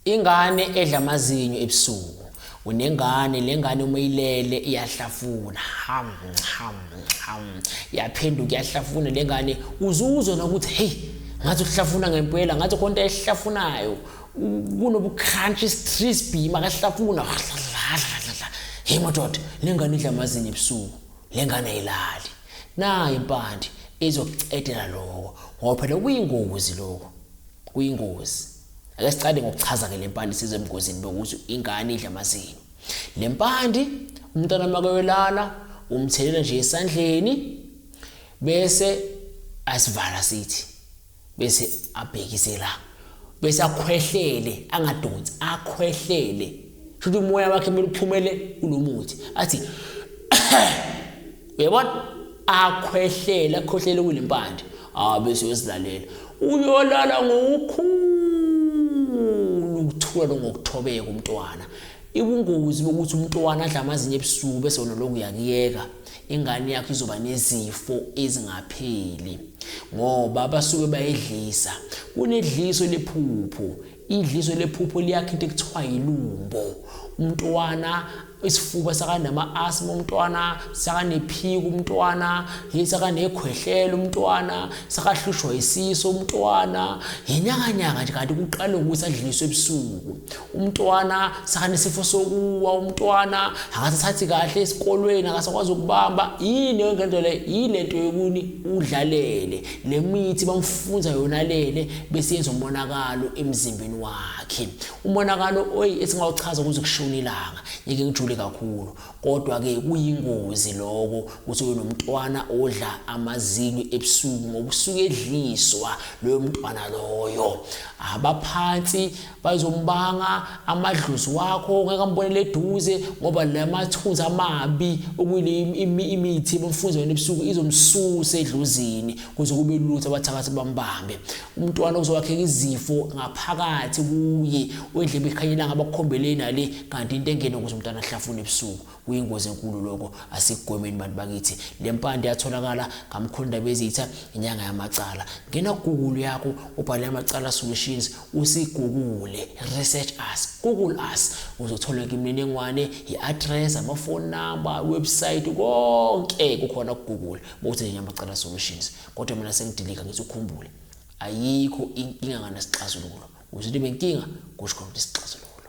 Ingane edla amazinyo ebusuku. Unengane lengane uma ilele iyahlafuna. Ham ham ham. Yaphenduka iyahlafuna lengane uzuzwa nokuthi hey ngathi uhlafuna ngempela ngathi konke ehlafunayo kunobucrunch crispy makahlafuna. Hey madoda lengane idla amazinyo ebusuku. Lengane ayilali. Nayi impande izokucedela lokho ngoba phela kuyingozi lokho. Kuyingozi. Ake siqale ngokuchaza ke lempande size emgozini bokuthi ingane idla amazinyo. Lempande umntwana makewelala umthelela nje esandleni bese asivala sithi bese abhekisela bese akhwehlele angadonsi akhwehlele shothi umoya wakhe mele uphumele kulomuthi athi uyabona akhwehlela khohlela kule mpande ah bese uyozilalela uyolala ngokukhulu ukuthula ngokuthobeka umntwana ibungozi bokuthi umntwana adla amazinyo ebusuku bese wona lokhu uyakuyeka ingane yakho izoba nezifo ezingapheli ngoba basuke bayedlisa kunedliso lephupho Idliso lephupho liyakhe into ekuthiwa yilumbo. Umntwana isifuba sakanama-asma umntwana sakanephika umntwana yini sakanekhwehlela umntwana sakahlushwa isiso umntwana yinyakanyaka nje kanti kuqale ukuthi adliliswe ebusuku umntwana sakanesifo sokuwa umntwana akasathathi kahle esikolweni akasakwazi ukubamba yini yonke nto le yile nto yokuni udlalele le mithi bamfunza yona lele bese yenza umonakalo emzimbeni wakhe umonakalo oyi esingawuchaza kuze kushone ilanga ngeke ngijule kakhulu kodwa-ke kuyingozi loko ukuthi uyo nomntwana odla amazinyo ebusuku ngoba usuke edliswa loyo mntwana loyo abaphansi bazombanga amadlozi wakho ngeke ambonele eduze ngoba la mathunzi amabi okuyile imithi ebamfunza yona ebusuku izomsusa edlozini kuze kube lutho abathakathi bambambe umntwana uzowakheka izifo ngaphakathi kuye wendlebe ikhanyelanga abakukhombeleni ale kanti into engene ukuze umntwana ahlafune ebusuku Kuyingozi enkulu lokho asikugwemeni bantu bakithi. Le mpande yatholakala ngamkhulundaba ezitha inyanga yamacala. Ngena Google yakho ubhale amacala solutions usigugule research us Google us uzothola imininingwane i-address amafoni number website konke kukhona ku Google bowuthi nje amacala solutions kodwa mina sengidilika ngithi ukhumbule ayikho inkinga nganasixazululo uzothi benkinga kusho khona isixazululo